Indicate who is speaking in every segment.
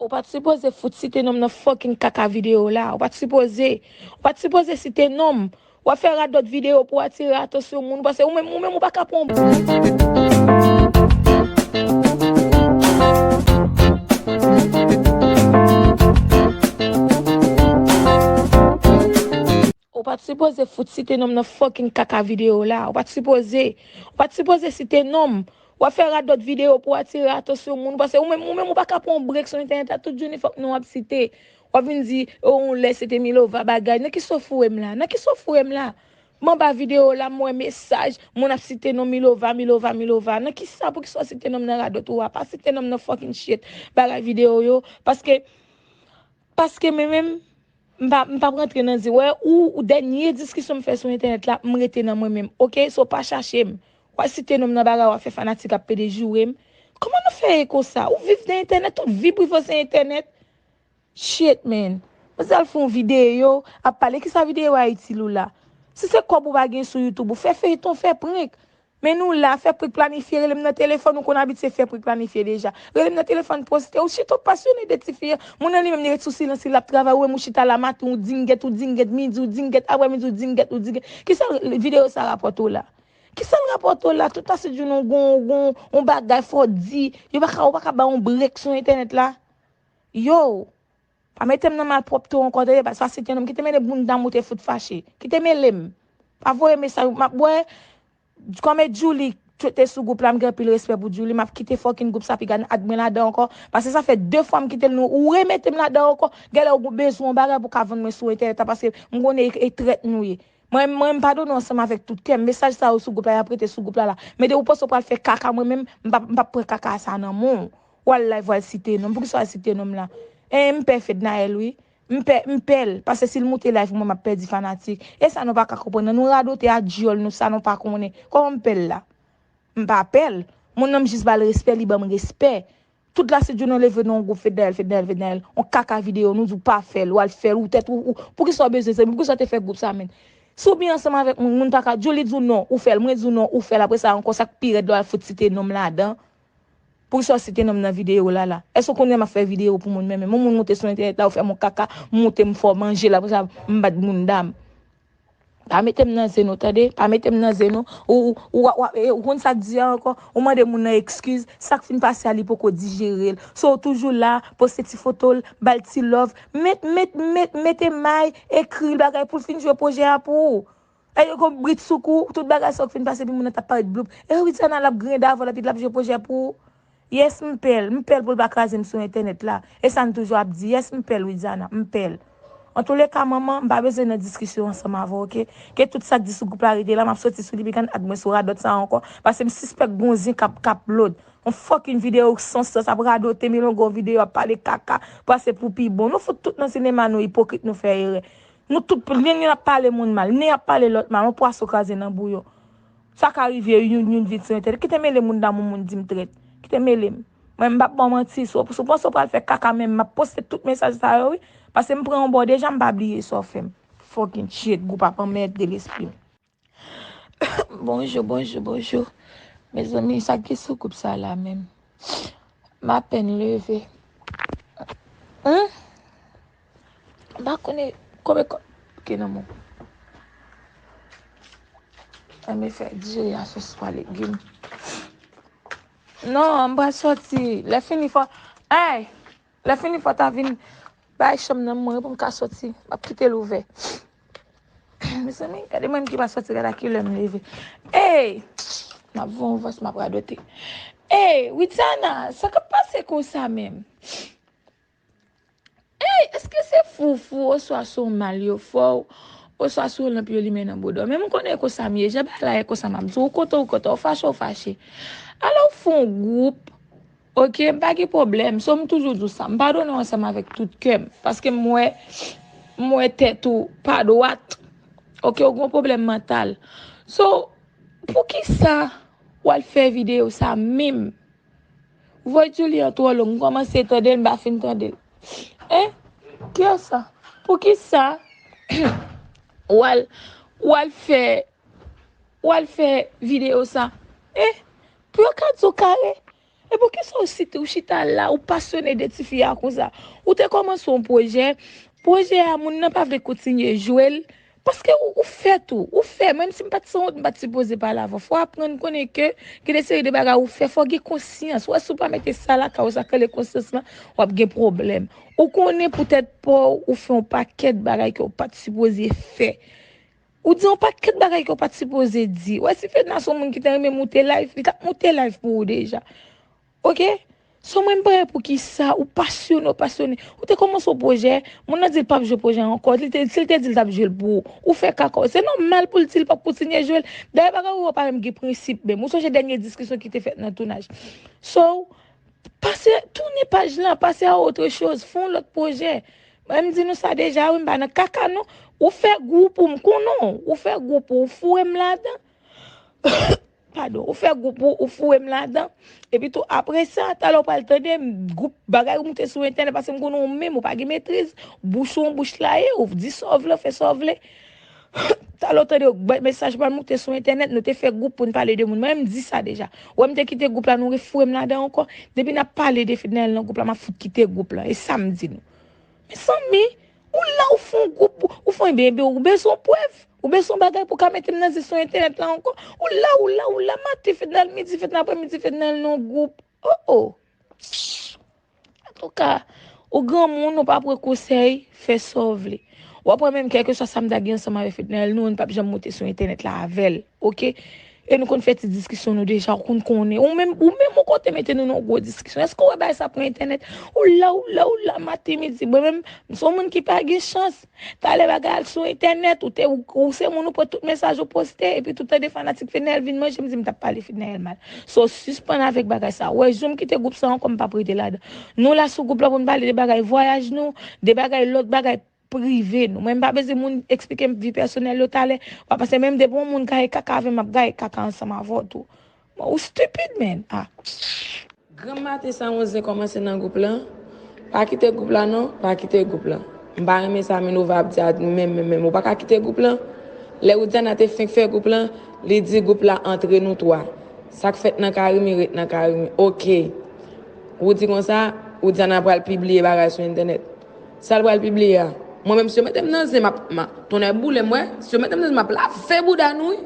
Speaker 1: Ou pat sipoze fout site nom nan fucking kaka video la. Ou pat sipoze. Ou pat sipoze site nom. Wap fè radòt video pou atire atansyon moun. Ou panse ou menm. Ou menm ou pa ka pran yon ti moun Ou pat sipoze fout site nom nan fucking kaka video la ou pat sipoze ou pat sipoze site nom wap fè radòt video pou atire atansyon moun pase ou menm ou menm ou pa ka pran yon break sou entènèt la tout jounen fòk non ap site wap vin di yon lè se te milova bagay nan ki sof ou wèm la nan ki sof ou wèm la M anba video la m wè mesaj moun ap site non Milova Milova Milova nan kisa poukisa w site nonm nan radot ou a pa site nonm nan fucking shit bagay video yo paske paske men menm m pa m pap rantre nan di wè ou ou dènye diskisyon m fè sou entènèt la m rete nan mwen menm ok so pa chache m wal site nonm nan bagay wap fè fanatik ap pede joure m kòman nou fè ye konsa ou viv nan entènèt tout vi prive w se entènèt. Shit man. Mwen sal fon video ap pale kisa video a itil ou la. Si se kob ou pa gen sou YouTube ou fè feyton fè prank. Men nou la fè prank planifye relem nan telefon ou konn abitye fè prank planifye deja. Relem nan telefon poste ou shit ou pasyone de tifi an. Moun nan li menm li ret sou silans li lap travay ou menm ou chita la maten ou dingèt ou dingèt midi ou dingèt aprè midi ou dingèt ou dingèt kisa video sa rapòte w la. Kisal rapòte w la tout ase jounè ou gon yon bagay fò di yo paka ou paka bay yon break sou entènèt la. Yow! Pa mete m nan malpwòpte w ankò tande paske sa se t yon nonm ki te mele bounda m ou te fout fache. Ki te mele m. Pa voye mesaj pou m ap wè Kòm e Djouly k te sou gwoup la m gen anpil respè pou Djouly m ap kite fòkin gwoup sa pi gad ak mwen ladan ankò paske sa fè 2 fwa m kite l nou ou remete m ladan ankò genlè ou bezwen yon bagay pou w ka vann mwen sou entènèt la paske m konnen e trèt nou ye mwen mwen m padone w ansanm avèk tout kè m mesaj sa yo sou gwoup la y ap rete sou gwoup la la men de ou panse w pral fè kaka mwen menm m p ap m p ap pran kaka sa nan men w Wal live wal site nom poukisa wal site nom la eh m pè fednaelle wi m pè m pèl pase sil moute live pou mwen map pèdi fanatik esa nou paka konprann nan nou radote a dyòl nou sa nou pa konnen kòman m pèl la m pa pèl moun nan m jis bal respè li banm respè tout la si diw nan leve non gwoup fednaelle fednaelle fednaelle on kaka video nou diw pa fèl wal fèl ou tèt ou poukisa w bezwen zanmi poukisa w te fè gwoup sa menn si w byen ansanm avèk moun moun paka diw li diw non ou fèl mwen diw non ou fèl apresa ankò sak pi rèd lè wal fout site nom ladan Poukisa w site nonm nan video lala. Èske w konnen map fè video pou moun menmen. M on moun moute sou entènèt la ou fèm on kaka m moute m fò manje la apresa m bat boundam. Pa metem nan zen nou tande. Pa metem nan zen nou. Ou wap ou konn sak di a ankò. Ou mande moun nan ekskiz. Sak fin pase a li poko dijerel. So ou toujou la poste ti fotol bal ti love. Met met met mete may ekril bagay poul fin jwe pwojè a pou ou. Epi yo kon brit sou kou ou, tout bagay sa ou k fin pase epi moun nan tap paret bloup. Epi Widiana lap griyen davò l epi lap jwe pwojè pou ou. Yes m pè l, m pè l pou l pa kraze m sou entènèt la. E sa n toujou ap di, yes m pè l Widiana, m pè l. Antoulèka manman, m pa bezwen nan diskisyon ansanm avè w ok. Ke tout sa k di sou gwoup la rete la, map soti sou li pikan ak mwen sou radòt sa ankò, pase m sispèk gon zen kap kap lòd. On fucking video k san sans ap radote milonga on video ap pale kaka, pase pou pi bon. Nou fout tout nan sinema nou ipokrit nou fè erè. Nou tout pou nen yon ap pale moun mal, nen ap pale lòt mal, yon pwason kraze nan bouyon. Sa ka rive wi youn vin tire tèt li. Kite mele moun damou moun di m trèt. Kite mele m. Mwen m pap ba w manti, si w panse w pral fè kaka men m ap poste tout mesaj sa yo wi. Pase m pran yon bo deja m pa bliye sa w fè m. Fucking shit, gou papa mèd de lespri. Bonjou bonjou bonjou mezanmi sak gen sou koup sa la menm m apèn leve humm m pa konnen konbyen kòb ki nan menw an me fè diri a soswa legim non m pral sòti lè fini fò eey Lè fini fò ta vin bay chanm nan mwen pou m ka soti. M ap kite l ouvè. Mezanmi, gade mwen ki pa soti gada ki lè m leve. Ey! M ap voye yon vòs m ap radote. Ey! Widiana, sa k ap pase konsa menm? Ey! Èske se foufou oswa se yon mal yo fè w oswa se yon lanp yo limen nan boudon w? Men m konnen e konsa m ye. Jan bagay la ye konsa m ap di w. Ou kontan ou kontan. Ou fache ou fache. Alò ou fè yon gwoup Ok m pa gen pwoblèm so m toujou di w sa m padone w ansanm avèk tout kè m paske m wè m wè tèt ou pa dwat ok ou gen yon pwoblèm mantal so poukisa w al fè videyo sa menm vwa Djoulie an twò long m kòmanse tande l m pa fin tande l en ki yè sa poukisa ou al ou al fè ou al fè videyo sa en Pou yo ka di w kare. E poukisa ou site, ou chita la, ou pasyone de ti fi a konsa? Ou te kòmanse yon pwojè, pwojè a moun nan pa vle kontinye jwe l, paske ou fè tou, ou fè, menm si m pa t sanwont, m pa t sipoze pale avè w. Fò w aprann konnen ke gen de seri de bagay ou fè, fò w gen konsyans. Ou wè si w pa mete sa lakay ou, sa k rele konsyans lan, w ap gen pwoblèm. Ou konnen pou tèt pa w, ou fè yon pakèt bagay ke w pa t sipoze fè. Ou di yon paket bagay ke w pat sipoze di. Ou wè si Fedna se yon moun ki ta renmen moute live, li tap moute live pou ou deja. Ok? So mwen m pa wè poukisa ou pasyone ou pasyone. Ou te kòmanse yon pwojè, moun nan di l pap jwe pwojè an ankò. Li te, si l te di l tap jwe l pou ou, ou fè kaka w. Se nòmal pou l di l pap kontinye jwe l. Dayè bagay ou yo pa menm gen prensip menm. Ou sonje dènye diskisyon ki te fèt nan tounaj. So, Pase, tounen paj lan, pase a otre choz, fon lot pwojè. Mwen m di nou sa deja wi m pa nan kaka non. Ou fè gwoup ou m konnen w, ou fè gwoup ou, ou foure m ladan. Padon, ou fè gwoup ou, ou foure m ladan. Epi tou apre sa, talè w pral tande m, gwoup bagay ou moute sou entènèt pase m konnen w menm ou pa gen metriz, bouch ou an bouch laye, ou di sa w vle, ou fè sa w vle. Talè w tande yo k bay mesaj pa nou te sou entènèt nou te fè gwoup pou n pale de moun mwen m di sa deja wè m te kite gwoup la nou refoure m ladan ankò depi n ap pale de Fednaelle nan gwoup la m ap fout kite gwoup lan e sa m di nou mezanmi ou la ou fè yon gwoup pou ou fè ebyen ebyen ou bezwen yon prèv ou bezwen yon bagay pou w ka mete m nan zi sou entènèt la ankò ou la ou la ou la maten Fednaelle midi Fednaelle aprè midi Fednaelle nan gwoup. Oh oh Antouka ou granmoun ou pa pran konsèy fè sa w vle Wap wè menm kèlkeswa sa m ta gen ansanm avèk Fednaelle nou 1 pap janm monte sou entènèt la avèl ok e nou konn fè ti diskisyon nou deja ou konn konnen ou menm ou menm ou konn te mete nou nan yon gwo diskisyon èske w wè bagay sa pran entènèt ou la ou la ou la maten midi mwen menm m son moun ki pa gen chans Talè bagay al sou entènèt ou te ou se moun ou pran tout mesaj ou poste epi tout tande fanatik Fednaelle vin manje m di m tap pale Fednaelle mal so sispann avèk bagay sa ou wè jou m kite gwoup sa ankò m pap rete ladan nou la sou gwoup la pou n pale de bagay vwayaj nou de bagay lòt bagay prive nou mwen m pa bezwen moun eksplike m vi pèsonèl yo talè wap panse menm depi yon moun gaye kaka avè m map gaye kaka ansanm avè w tou Bon ou stupid man ah. Granm maten sa yon zen komanse nan group lan pa kite group la non pa kite group lan m pa renmen sa Minova ap di a menm menm menm ou pa ka kite group lan lè Widiana te fenk fè group lan li di group la antre nou 3 sak fèt nan carimi ret nan carimi ok ou di konsa Widiana pral pibliye bagay sou entènèt sal pral pibliye a mwen menm si yo metem nan zen map tonnè boulem wè si yo metem nan zen map lave bouda nou wi.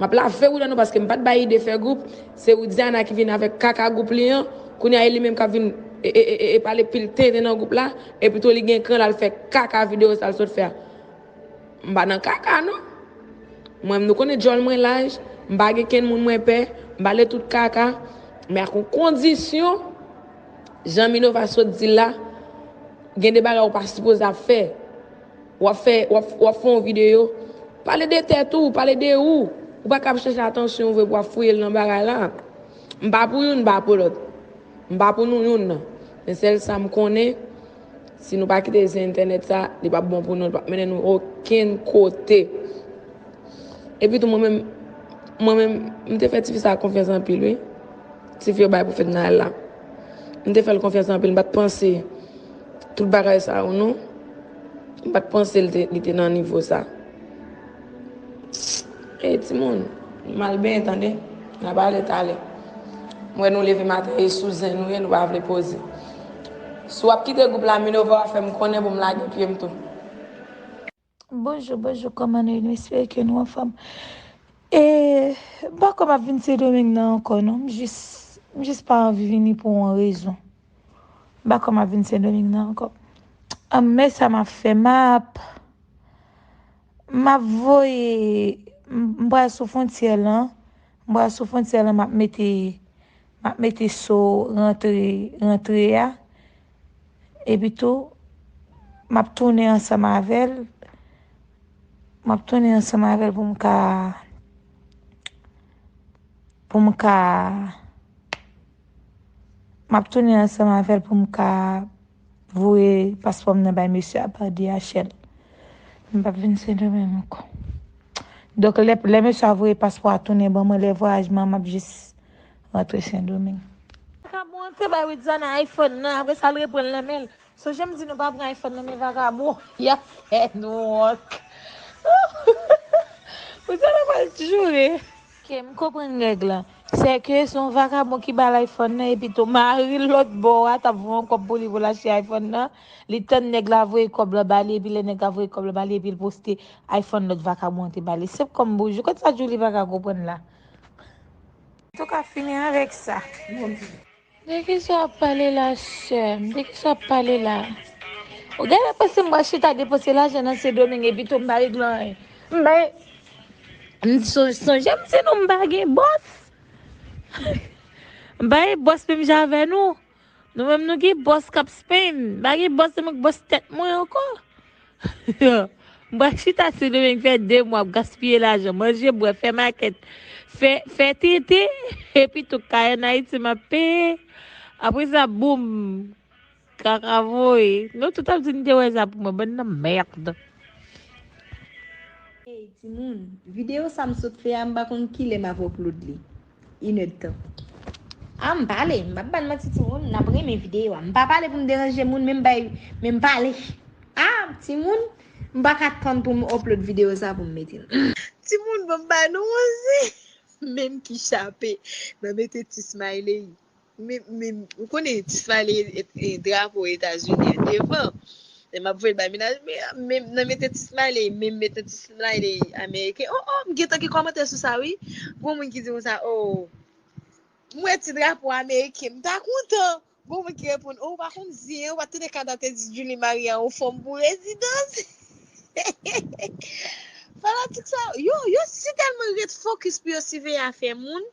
Speaker 1: Map lave Widiana paske mpat bay ide fè group, se Widiana ki vin avèk kaka group li an, kounya e li menm kap vin e pale pil tenten nan group la, e pito li gen kran lal fè kaka video sal sot fè a. Mpa nan kaka non. Mwen menm nou konnen djòl mwen laj, mpa gen kenn moun mwen pè, mpale tout kaka, men ak yon kondisyon, jan Minova sot dil la, gen de bagay ou pa sipoze ap fè. Wap fè wap fè yon video pale de tèt ou pale de ou ou pa kap chèche atansyon vre pou wap fouye nan bagay la m pa pou youn m pa pou lòt m pa pou nou youn nan men sèl sam konnen si nou pa kite zen entènèt sa li pap bon pou nou li pap mennen nou okenn kote epi tou mwen menm mwen menm m te fè tifi sa konfyans anpil wi tifi yo bay pou fèt nayèl la m te fèl konfyans anpil m pat panse tout bagay sa yo non. M pat panse li te nan nivo sa. Hey timoun, m al benyen tande. N ap ale tale. M wè nou leve maten e sou zen nou ye nou pa vle poze. Si w ap kite gwoup la Minerva fè m konnen pou m lage pye m tou. Bonjou, bonjou kòman nou ye? Nou espere ke nou anfòm. E m pa kwè m ap vin Sendomeng nan ankò non. M jis, m jis pa anvi vini pou yon rezon. M pa kwè map vin sendoming nan ankò. Anmey sa map fè map map voye m pral sou fwontyè lan m pral sou fwontyè lan map mete map mete so rantre rantre a epi tou map tounen ansanm avèl map tounen ansanm avèl pou m ka pou m ka Map tounen ansanm avèl pou m ka voye paspò m nan bay mesye a pa DHL. M pap vin Sendomeng ankò. Donk lè mesye a voye paspò a tounen ban mwen, lè vwayaj mwen an map jis rantre Sendomeng. Vakabon an te bay Widiana iPhone nan apre sa l reprann nan men l. Sonje m di nou pa pran iPhone nan men vakabon, y ap fè nou wont. Widiana pral joure. Ke m konprann règ lan, sè ke se yon vakabon ki ba l iPhone nan epi tou mari l lòt bò a t ap voye yon kòb pou li pou l achte iPhone nan, li tann nèg la voye kòb lan ba li epi lè nèg la voye kòb lan ba li epi l poste iPhone lòt vakabon an te ba li. Senp kòm boujou. Kot sa Djoulie pa ka konprann la? An tou ka fini avèk sa. De kisa wap pale la seum de kisa wap pale la ou genlè panse m pral chita depanse lajan nan sendomeng epito m pa regle anyen m bay m sonje m di nou m pa gen bòs m pa gen bòs menm jan avè nou nou menm nou gen bòs kap spenn m pa gen bòs menm ak bòs tèt mwen ankò M pral chita sou nou men m fè 2 mwa ap gaspiye lajan, manje, bwè, fè makèt, fè fè tete epi tou kay an Ayiti m ap peye. Apre sa boum! Kaka voye. Nou tout ap di n te wè sa pou mwen, bann nan mèrd. Hey
Speaker 2: timoun, video sa m sot fè a m pa konn kilè m ap upload li. inedtan. Ah m pale, m pap bann manti timoun, nap renmen video a. M pa pale pou m deranje moun men m bay men m pale. Ah timoun, m pa ka tann pou m upload video sa pou m mete l. Timoun banm ba nou yon zen menm ki chape nan mete ti smiley. Ou konnen ti smiley e drapo etazini an devan lè map voyel bay menaj menm nan mete ti smiley menm mete ti smiley ameriken oh oh m gentan gen kòmantè sou sa wi gon moun ki di konsa oh m wè ti drapo ameriken m ta kontan gon moun ki reponn oh ou pa konn zen an ou pa tande kada te di Julie marye a yon fanm pou rezidans fanatik sa yo yo si tèlman ret fokis pou yo siveye afè moun.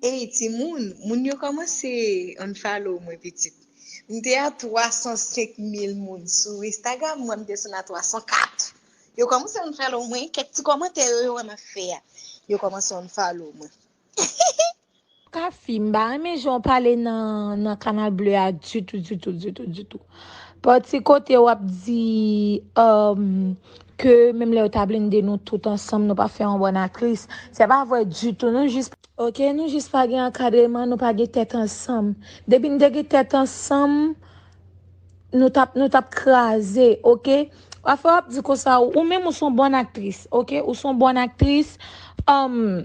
Speaker 2: Ey timoun, moun yo kòmanse unfollow mwen pitit. M te a 305 mil moun sou Instagram mwen, m desann a 304. Yo kòmanse unfollow mwen, kèk ti kòmantè yo yo wè map fè a, yo kòmanse unfollow mwen.
Speaker 1: Cassie, m pa renmen jan w pale nan Canal Bleu a ditou, ditou, ditou, ditou. Pati kote wap di Ke menm lè yo ta blinde nou tout ansanm nou pa fè yon bòn aktris. Se pa vwè ditou nou jis. Ok nou jis pa gen ankadreman nou pa gen tèt ansanm. Depi nou te gen tèt ansanm nou tap nou tap kraze ok. Pafè wap di konsa ou menm ou son bòn aktris ok ou son bòn aktris humm.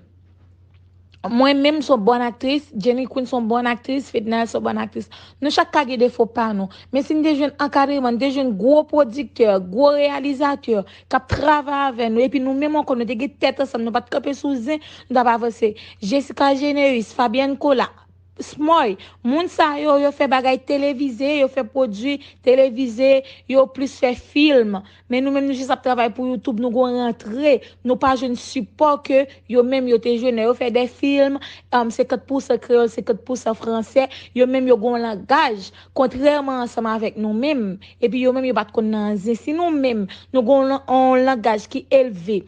Speaker 1: Mwen menm son bon aktris, Jenny Queen son bon aktris, Fednaelle son bon aktris. Nou chak ka gen defo pa nou. Men si nou te jwenn ankadreman, nou te jwenn gwo pwodiktè, gwo reyalizatè k ap travay avè nou epi nou menm ankò nou te gen tèt ansanm nou pa t kanpe sou zen, nou t ap avanse. Gessica Généus, Fabienne Colas. Smòy, Moun sa yo, yo fè bagay televize, yo fè pwodui televize, yo plis fè film. Men nou menm nou jis ap travay pou YouTube, nou gon rantre, nou pa jwenn sipò ke yo menm yo te jwenn lè yo fè de film, 50 pousan kreyòl, 50 pousan fransè, yo menm yo gon langaj, kontrèman ansanm avèk nou menm, epi yo menm yo pat konn nan anzin. Si nou menm nou gon yon langaj ki elve,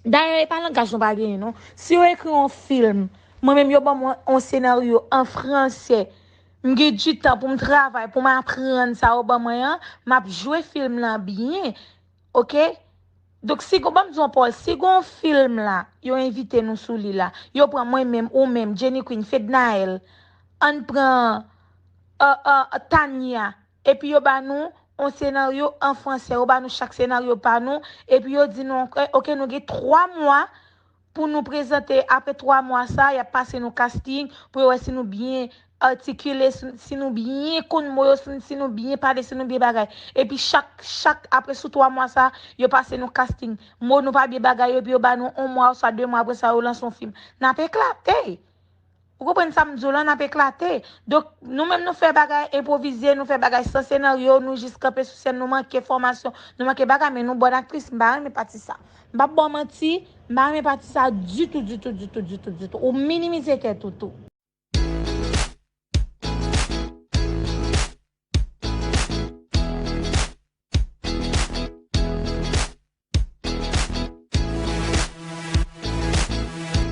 Speaker 1: dayè e pa langaj nou pa genyen non, si yo ekri yon film, Mwen menm yo banm yon senaryo an fransè m gen du tan poum travay poum aprann sa yo ban mwen an map jwe film lan byen ok donk si gon banm di w an pawòl si gon film la yo envite nou sou li la yo pran mwen menm ou menm Jenny Queen Fednaelle ann pran Tania epi yo ba nou yon senaryo an fransè yo ba nou chak senaryo pa nou epi yo di nou ok nou gen 3 mwa Pou nou prezante apre 3 mwa sa yap pase nou casting pou yo wè si nou byen artikile si nou byen konn mo yo si nou byen pale si nou byen bagay epi chak chak apre sou 3 mwa sa yo pase nou casting mo nou pa byen bagay yo epi yo ba nou 1 mwa oswa 2 mwa apre sa yo lanse yon film nap eklate. Ou konprann sa m di w lan, n ap eklate. Donk, nou menm nou fè bagay enpwovize, nou fè bagay san senaryo, nou jis kanpe sou sèn, nou manke fòmasyon, nou manke bagay, men nou bòn aktris, m pa renmen pati sa. M p ap ba w manti, m pa renmen pati sa ditou, ditou, ditou, ditou, ditou. Ou minimize tèt ou tou.